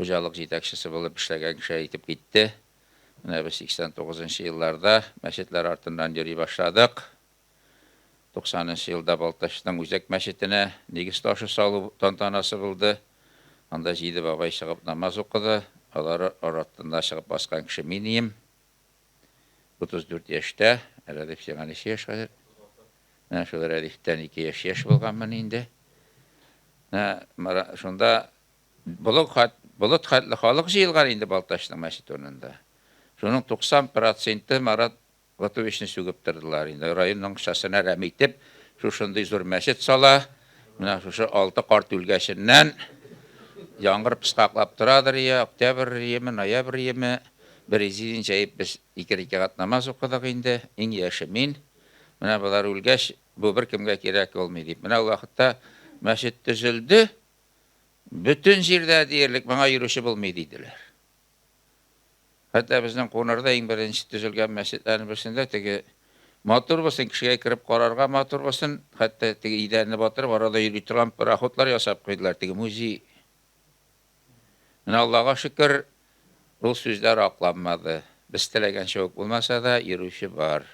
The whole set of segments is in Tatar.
хуҗалык җитәкчесе булып эшләгән кеше әйтеп китте. Менә без 89 нчы елларда мәчетләр артыннан йөри башладык. 90 нчы елда Балтачның үзәк мәчетенә нигез ташы салу тантанасы булды. Анда җиде бабай чыгып намаз укыды. Алары арытында чыгып баскан кеше мин ием. 34 яшьтә, Рәдиф сиңа ничә яшь хәзер? Менә шул Рәдифтән ике яшь яшь булганмын инде. Менә шунда Болыт хат, болыт хәтле халык җыелган инде Балтачның мәчете урынында. Шуның 90 проценты Марат Ватовичны сүгеп тордылар инде. Район моңчасына рәм итеп, шушындый зур мәчет сала, менә шушы алты карт үлгәченнән, яңгыр пыскаклап торадыр йә, октябрь йеме, ноябрь йеме, бер изидин җәеп без ике рикәгать намаз укыдык инде, иң яше мин. Менә болар үлгәч, бу беркемгә кирәк булмый, дип. Менә ул вакытта мәчет төзелде, Бөтен җирдә диярлек моңа йөрүче булмый, диделәр. Хәтта безнең Кунарда иң беренче төзелгән мәчетләрнең берсендә теге матур булсын, кешегә кереп карарга матур булсын, хәтта теге идәнне батырып, арада йөри торган пароходлар ясап куйдылар, теге музей. Менә Аллага шөкер, ул сүзләр акланмады. Без теләгәнчә үк булмаса да, йөрүче бар.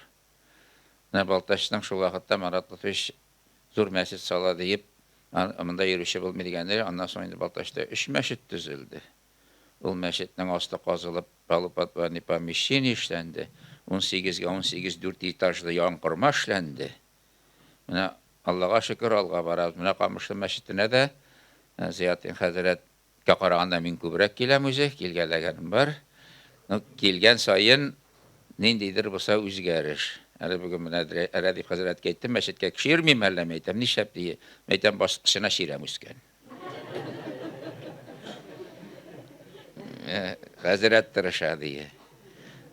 Менә Балтачның шул вакытта Марат Лотфович зур мәчет сала диеп, монда йөрүче булмый дигәндәй, аннан соң инде Балтачта өч мәчет төзелде. Ул мәчетнең асты казылып, полуподвальный помещение эшләнде, унсигезгә унсигез дүрт этажлы янкорма эшләнде. Менә, Аллага шөкер, алга барабыз. Менә Камышлы мәчетенә дә Зыятдин хәзрәт Кә караганда мин күбрәк киләм үзе, килгәләгәнем бар. Ну, килгән саен ниндидер булса үзгәреш. Әле бүген менә Рәдиф хәзрәткә әйттем, мәчеткә кеше йөрмиме әллә, мин әйтәм, нишләп ди, мин әйтәм, баскычына чирәм үскән. Хәзрәт тырыша ди.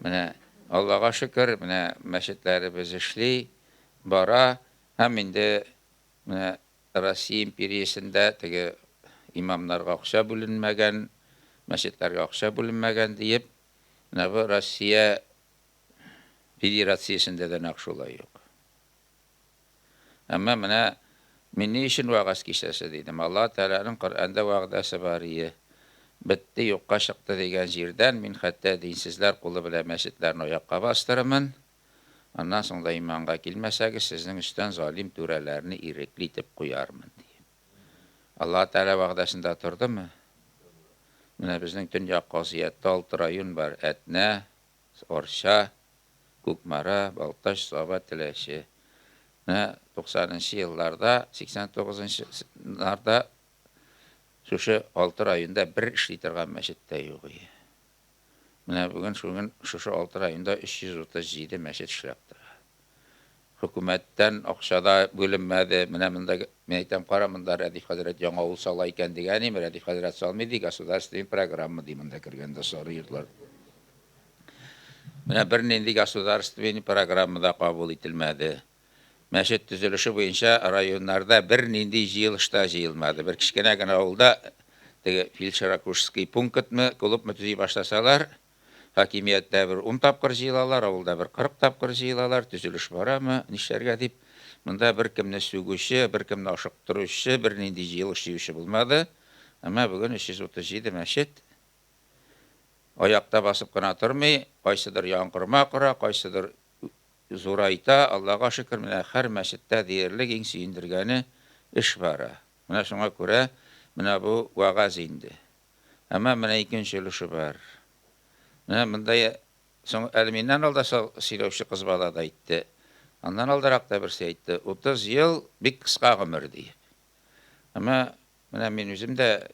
Менә Аллага шөкер, менә мәчетләребез эшли, бара, һәм инде менә Россия империясендә теге имамнарга акча бүленмәгән, мәчетләргә акча бүленмәгән диеп, менә бу Россия Федерациясендә дә нәкъ шулай юк. Әмма менә мин ни өчен вәгазь кичәсе дидем, Аллаһы Тәгаләнең Коръәндә вәгъдәсе бар ие, бетте, юкка чыкты дигән җирдән мин хәтта динсезләр кулы белән мәчетләрне аякка бастырырмын, Аннан соң да иманга килмәсәгез, сезнең өстән залим түрәләрне ирекле итеп куярмын, ди. Аллаһы Тәгалә вәгъдәсендә тордымы? Менә безнең төньяк казыятта алты район бар, Әтнә, Арча, Кукмара, Балтач, Саба, Теләче. Менә туксанынчы елларда, сиксән тугызынчы нарда шушы алты районда бер эшли торган мәчет тә юк иде. Менә бүген шуген шушы 6 районда 337 мәчет эшләп тора. Хөкүмәттән акча да бүленмәде. Менә монда мин әйтәм, кара монда Рәдиф хәзрәт яңа авыл сала икән дигән идем, Рәдиф хәзрәт салмый ди, государственная программа ди монда кергәндә сары йортлар. Менә бернинди государственная программа да кабул ителмәде. Мәчет төзелеше буенча районнарда бернинди җыелыш та җыелмады. Бер кечкенә генә авылда теге фельдшеракушский пункытмы, клубмы төзи башласалар, хакимияттә бер ун тапкыр җыелалар, авылда бер кырык тапкыр җыелалар, төзелеш барамы, нишләргә дип. Монда беркемне сүгүче, беркемне ашыктыручы, бернинди җыелыш җыючы булмады. Әмма бүген 337 мәчет аякта басып кына тормый, кайсыдыр яңгырма кора, кайсыдыр Зурайта, Аллага шөкер, менә хәр мәчеттә диярлек иң сөендергәне, эш бара. Менә шуңа күрә менә бу вәгазь инде. Әмма менә икенче өлеше бар. Менә монда соң әле миннән алда сөйләүче кыз бала да әйтте, аннан алдарак та берсе әйтте, утыз ел бик кыска гомер диеп. Әмма менә мин үзем дә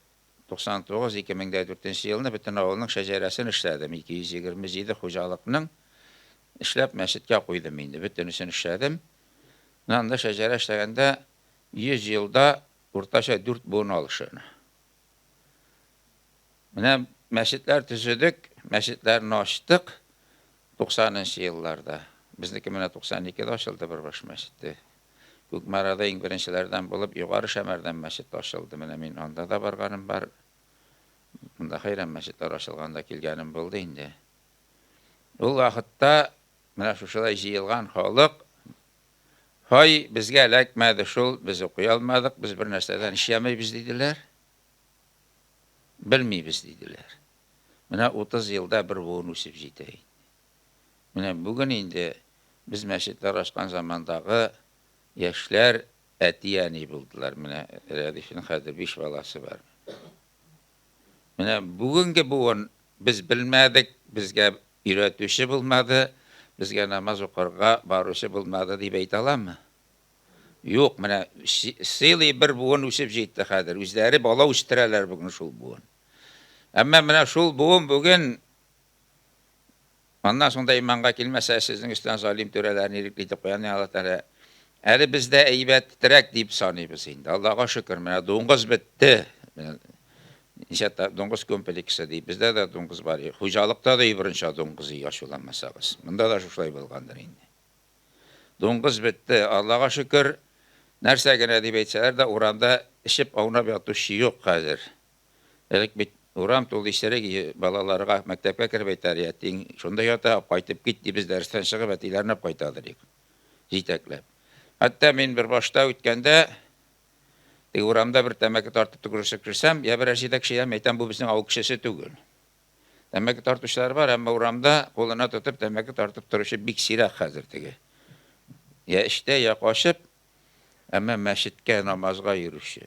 99, 2004 нче елны бөтен авылның шәҗәрәсен эшләдем, 227 хуҗалыкның Эшләп мәчеткә куйдым инде, бөтенесен эшләдем. Менә анда шәҗәрә эшләгәндә 100 елда уртача 4 буын алышы. Менә мәчетләр төзедек, мәчетләрне ачтык 90 нчы елларда. Безнеке менә 92 дә ачылды бер баш мәчете. Күкмарада иң беренчеләрдән булып Югары Шәмәрдән мәчет ачылды. Менә мин анда да барганым бар. Монда хәйран мәчетләр ачылганда килгәнем булды инде. Ул вакытта менә шушылай җыелган халык, Һай, безгә эләкмәде шул, без укый алмадык, без бернәрсәдән эшләмибез, диделәр. Белмибез, диделәр. Менә 30 елда бер буын үсеп җитә инде. Менә бүген инде без мәчетләр ачкан замандагы яшьләр әти-әни булдылар. Менә Рәдифнең хәзер биш баласы бар. Менә бүгенге буын без белмәдек, безгә өйрәтүче булмады, безгә намаз укырга баручы булмады дип әйтә аламмы? Юк, менә сыйлый бер буын үсеп җитте хәзер. Үзләре бала үстерәләр бүген шул буын. Әмма менә шул буын бүген Аннан шунда иманга килмәсә, сезнең өстән залим түрәләрне ирекле итеп куя Аллаһ Тәгалә. Әле бездә әйбәтрәк дип саныйбыз инде. Аллага шөкер, менә дуңгыз бетте. Ничә та дуңгыз комплексы ди. Бездә дә дуңгыз бар. Хуҗалыкта да ибрынча дуңгыз ия шуламасагыз. Монда да шушай булгандыр инде. Дуңгыз бетте. Аллага шөкер, нәрсә генә дип әйтсәләр дә урамда эчеп аунап ятучы юк хәзер. Элек бит урам тулы исерек иде, балаларга, мәктәпкә кереп әйтәр, ятиң шунда ята, кайтып кит, дип без дәрестән чыгып әтиләренә үк кайта идек, җитәкләп. Хәтта мин бер башта үткәндә, теге урамда бер тәмәке тартып төкерешеп керсәм, я берәр җитәкче, яме әйтәм, бу безнең авыл кешесе түгел. Тәмәке тартучылар бар, әмма урамда кулына тотып тәмәке тартып торучы бик сирәк хәзер теге. Я эштә, я качып, әмма мәчеткә намазга йөрүче.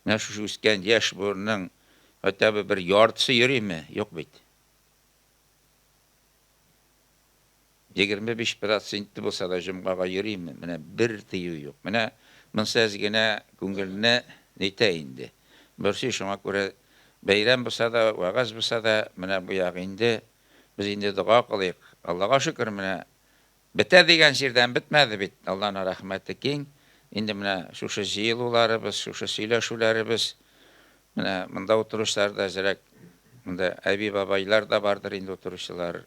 Менә шушы үскән яшь буынның хотя бы бер яртысы йөриме? Юк бит. 25 проценты булса да җомгага йөриме? Менә бер тыю юк. Менә монсы әз генә күңелне нитә инде. Борчый, шуңа күрә бәйрәм булса да, вәгазь булса да, менә бу ягы инде, без инде дога кылыйк. Аллага шөкер, менә Бетә дигән җирдән бетмәде бит, Алланың рәхмәте киң. Инде менә шушы җыелуларыбыз, шушы сөйләшүләребез, менә монда утыручылар да әзрәк, монда әби-бабайлар да бардыр инде утыручылар.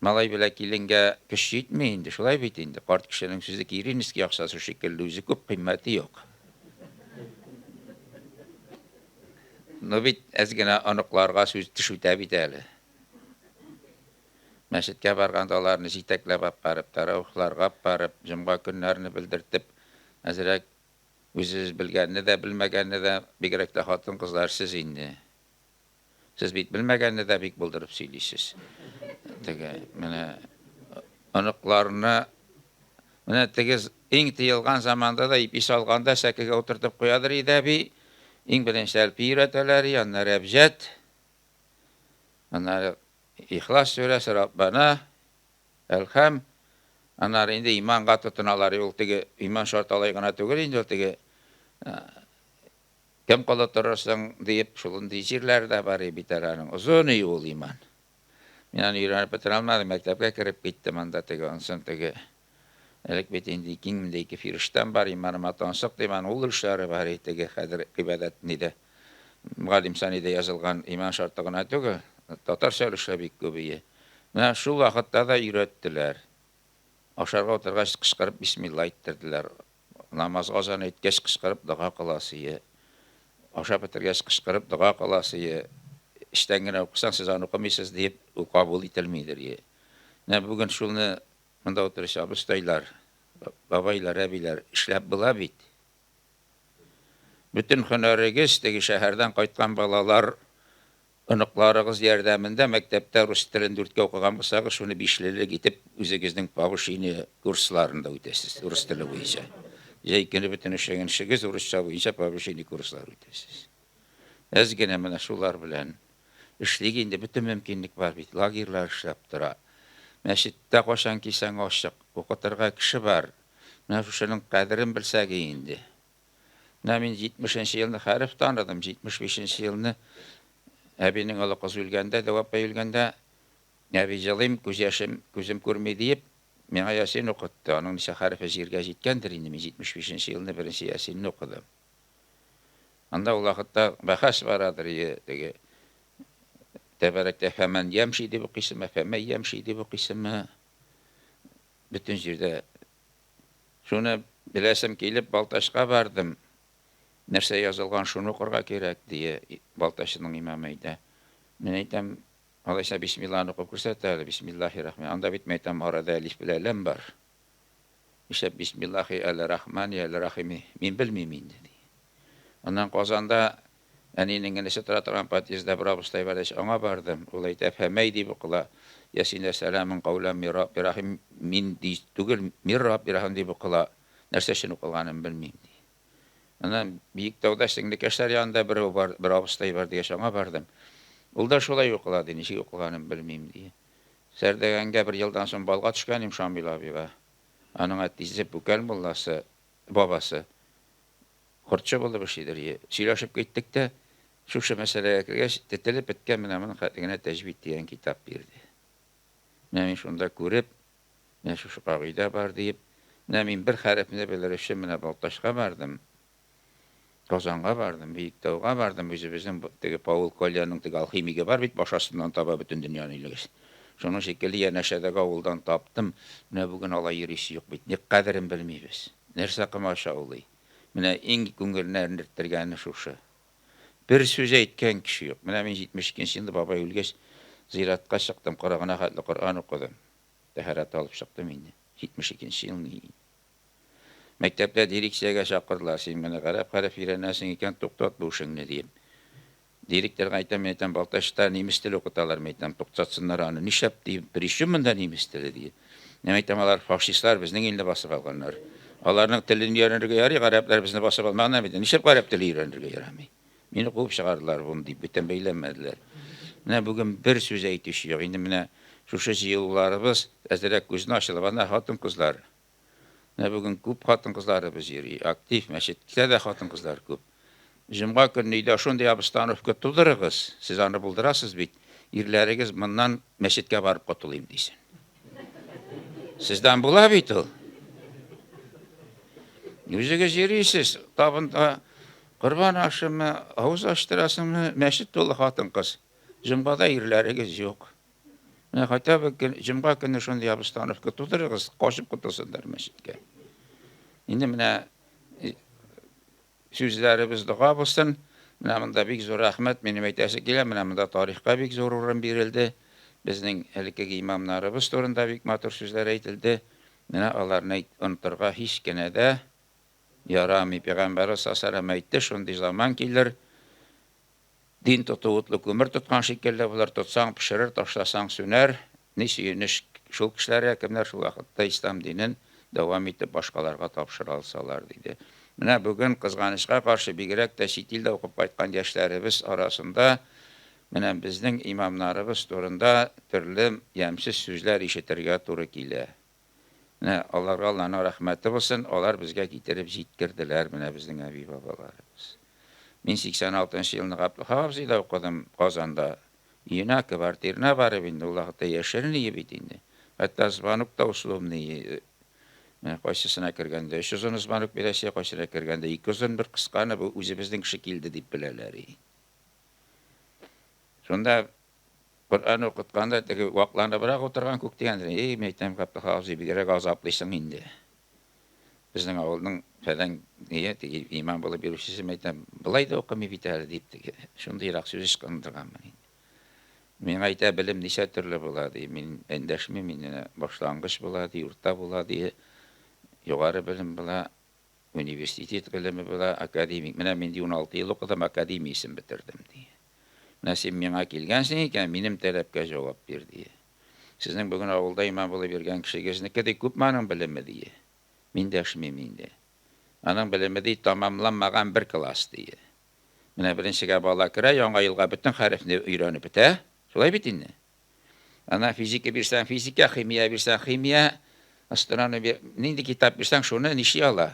Малай белән киленгә көч җитми инде, шулай бит инде, карт кешенең сүзе киринский акчасы шикелле, үзе күп, кыйммәте юк. Ну бит әз генә оныкларга сүз төшүтә бит әле. Мәчеткә барганда аларны җитәкләп ап барып, тәраухларга ап барып, җомга көннәрне белдертеп, әзрәк үзебез белгәнне дә, белмәгәнне дә, бигрәк тә хатын-кызлар сез инде. Сез бит белмәгәнне дә бик булдырып сөйлисез. Теге, менә оныкларны менә теге иң тыелган заманда да ипи салганда сәкегә утыртып куядыр иде әби. Иң беренче әлпи өйрәтәләр, аннары әбҗәт. Аннары Ихлас сүрәсе Раббана, Әлхәм, аннары инде иманга тотыналар, ул теге иман шарт алай гына түгел инде, ул теге кем колы торырсың диеп, шулындый җирләр дә бар бит әле аның. Озын и ул иман. Мин аны өйрәнеп бетерә алмадым, мәктәпкә кереп киттем, анда теге онсын, теге Элек бит инде ике мең дә ике фирештәм бар, иманыма тансык дип, аның ул өлешләре бар иде, теге хәзер гыйбадәт нидә, Мөгаллим санида язылган иман шарты гына түгел, татарча өлешләр бик күбие. Менә шул вакытта да өйрәттеләр. Ашарга утыргач кычкырып бисмилла әйттерделәр. Намазга азан әйткәч кычкырып дога кыласые. Ашап бетергәч кычкырып дога кыласые. Эчтән генә укысаң, сез аны укымыйсыз диеп, ул кабул ителмидер. Менә бүген шуны Монда утыручы абыстайлар, бабайлар, әбиләр, эшләп була бит. Бөтен хөнәрегез теге шәһәрдән кайткан балалар, оныкларыгыз ярдәмендә мәктәптә рус телен дүрткә укыган булсагыз, шуны бишлелек итеп үзегезнең повышение курсларында үтәсез, рус теле буенча. Җәй көне бөтен эшләгән эшегез урысча буенча повышение курслары үтәсез. Без генә менә шулар белән эшлик инде, бөтен мөмкинлек бар бит, лагерьлар эшләп тора. Мәчеттә кайчан килсәң ачык, укытырга кеше бар. Менә шушының кадерен белсәге инде. Менә мин 70 нче елны хәреф таныдым, 75 нче елны әбинең олы кызы үлгәндә, Дәү апай үлгәндә, әби җылыйм, күз яшем, күзем күрми диеп, миңа ясин укытты. Аның ничә хәрефе җиргә җиткәндер инде, мин 75 нче елны беренче ясинне укыдым. Анда ул вакытта бәхәс барадыр, ие, теге тәбәрәкә фәмән ямши дип укыйсымы, фәмәй ямши дип укыйсымы, бөтен җирдә. Шуны беләсем килеп, Балтачка бардым. Нәрсә язылган, шуны укырга кирәк, дие Балтачның имамы әйтә. Мин әйтәм, алайса бисмилланы укып күрсәт әле, бисмиллахи рахман. Анда бит, мин әйтәм, арада әлиф белән ләм бар. Нишләп бисмиллахи әле рахмани әле рахими, мин белмим инде, ди. Аннан Казанда әнинең энесе тора торган подъездда бер абыстай бар ич, аңа бардым. Ул әйтә, Фәмәй дип укыла, Ясин вә сәламун кауләм мир Рабби рахим, мин ди түгел, мир Рабби рахим дип укыла, нәрсә өчен укылганын белмим, ди. Аннан Биектауда сеңлекәшләр янында берәү бар, бер абыстай бар дигәч, аңа бардым. Ул да шулай укыла, ди, ничек укылганын белмим, ди. Зәрдәгәнгә бер елдан соң балга төшкән им Шамил абыйга. Аның әтисе Бүкәл мулласы, бабасы, хортчы булып эшлидер. Е, сөйләшеп киттек тә, шушы мәсьәләгә кергәч, тетелеп беткән менә моның хәтлегенә Тәҗвид дигән китап бирде. Менә мин шунда күреп, менә шушы кагыйдә бар диеп, менә мин бер хәрефне белер өчен менә Балтачка бардым. Казанга бардым, Биектауга бардым, үзебезнең теге Паул Кольяның теге алхимигы бар бит, баш астыннан таба бөтен дөньяны илегез. Шуның шикелле янәшәдәге авылдан таптым, менә бүген алай йөрисе юк бит, ник кадерен белмибез. Нәрсә комачаулый? Менә иң күңелне әрнерттергәне шушы. Бер сүз әйткән кеше юк. Менә мин 72 нче елда бабай үлгәч, зиратка чыктым, кырыгына хәтле Коръән укыдым. Тәһарәт алып чыктым инде. 72 нче ел ни. Мәктәптә дирекциягә чакырдылар, син менә гарәп хәреф өйрәнәсең икән, туктат бу эшеңне, диеп. Директорга әйтәм, мин әйтәм, Балтачта немец теле укыталар, мин әйтәм, туктатсыннар аны, нишләп, дим, причем монда немец теле, ди. Мин әйтәм, алар фашистлар, безнең илне басып алганнар. Аларның телен өйрәнергә ярый, гарәпләр безне басып алмаган, әмма нишләп гарәп теле өйрәнергә ярамый? Мине куып чыгардылар, бум, дип, бүтән бәйләмәделәр. Менә бүген бер сүз әйтүче юк. Инде менә шушы җыелуларыбыз әзрәк күзне ачылып, ана хатын-кызлар, Менә бүген күп хатын-кызларыбыз йөри, актив, мәчеткә дә хатын-кызлар күп. Җомга көнне өйдә шундый обстановка тудырыгыз, сез аны булдырасыз бит, ирләрегез моннан мәчеткә барып котылыйм дисен. Сездән була бит ул. Үзегез йөрисез, табында корбан ашымы, авыз ачтырасыңмы, мәчет тулы хатын-кыз. Җомгада ирләрегез юк. Менә хотя бы җомга көне шундый обстановка тудырыгыз, качып котылсыннар мәчеткә. Инде менә сүзләребез дога булсын. Менә монда бик зур рәхмәт, минем әйтәсе килә, менә монда тарихка бик зур урын бирелде. Безнең элеккеге имамнарыбыз турында бик матур сүзләр әйтелде. Менә аларны онтырга һич кенә дә ярамый. Пәйгамбәрбез саллаллаһу әйтте, шундый заман килер, Дин тоту утлы күмер тоткан шикелле булыр, тотсаң пешерер, ташласаң сүнәр. Ни сөенеч шул кешеләргә, кемнәр шул вакытта ислам динен дәвам итеп башкаларга тапшыра алсалар, диде. Менә бүген, кызганычка каршы, бигрәк тә чит илдә укып кайткан яшьләребез арасында менә безнең имамнарыбыз турында төрле ямьсез сүзләр ишетергә туры килә. Менә аларга Алланың рәхмәте булсын, алар безгә китереп җиткерделәр менә безнең әби-бабаларыбыз. Мин 86 нчы елны Габдулхак абзыйда укыдым, Казанда. Өенә, квартирына барып инде, ул вакытта яшерен өе бит инде. Хәтта звонок та условный өе. Менә кайсысына кергәндә өч озын звонок бирәсе, кайсына кергәндә ике озын, бер кысканы, бу үзебезнең кеше килде дип беләләр и. Шунда Коръән укытканда теге вакланыбрак утырган күк дигәндер, и, мин әйтәм, Габдулла абзый, бигрәк азаплыйсың инде. Безнең авылның фәлән ие, теге имам булып йөрүчесе, мин әйтәм, болай да укымый бит әле, дип, теге шундыйрак сүз ычкындырганмын инде. Миңа әйтә, белем ничә төрле була, ди, мин эндәшмим, мин башлангыч була, ди, урта була, ди, югары белем була, Университет белеме була, академик. Менә мин, ди, уналты ел укыдым, академия исем бетердем, ди. Менә син миңа килгәнсең икән, минем таләпкә җавап бир, ди. Сезнең бүген авылда имам булып йөргән кешегезнеке, ди, күпме аның белеме, ди. Мин дәшмим инде. Аның белеме, ди, тәмамланмаган бер класс, ди. Менә беренчегә бала керә, яңа елга бөтен хәрефне өйрәнеп бетә. Шулай бит инде? Ана физика бирсәң физика, химия бирсәң химия, астрономия нинди китап бирсәң шуны ниши ала.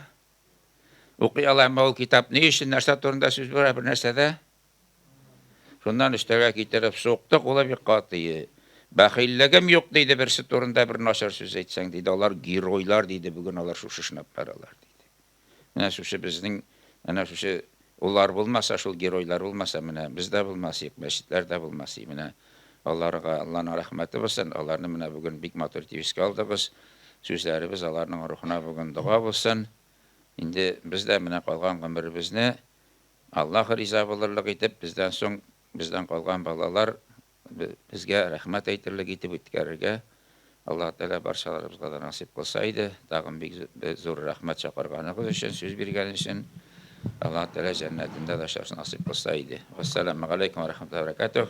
Укый ала, әмма ул китап ни өчен, нәрсә турында сүз бара, бер нәрсәдә? Шуннан өстәгә китереп сукты, кулы бик катые. Бәхиллегем юк диде берсе турында бер начар сүз әйтсәң, диде. Алар геройлар диде, бүген алар шушы шнап баралар. Менә шушы безнең, менә шушы улар булмаса, шул геройлар булмаса, менә без дә булмас идек, мәчетләр дә булмас иде. Менә аларга Алланың рәхмәте булсын, аларны менә бүген бик матур итеп искә алдыгыз. Сүзләребез аларның рухына бүген дога булсын. Инде без дә менә калган гомеребезне Аллаһ риза булырлык итеп, бездән соң, бездән калган балалар Безгә рәхмәт әйтерлек итеп үткәрергә Аллаһы Тәгалә барчаларыбызга да насыйп кылса иде. Тагын бик зур рәхмәт чакырганыгыз өчен, сүз биргән өчен. Аллаһы Тәгалә җәннәтендә дә очрашырга насыйп кылса иде. Вассаламу алейкум ва рахматуллаһи ва баракатуһ.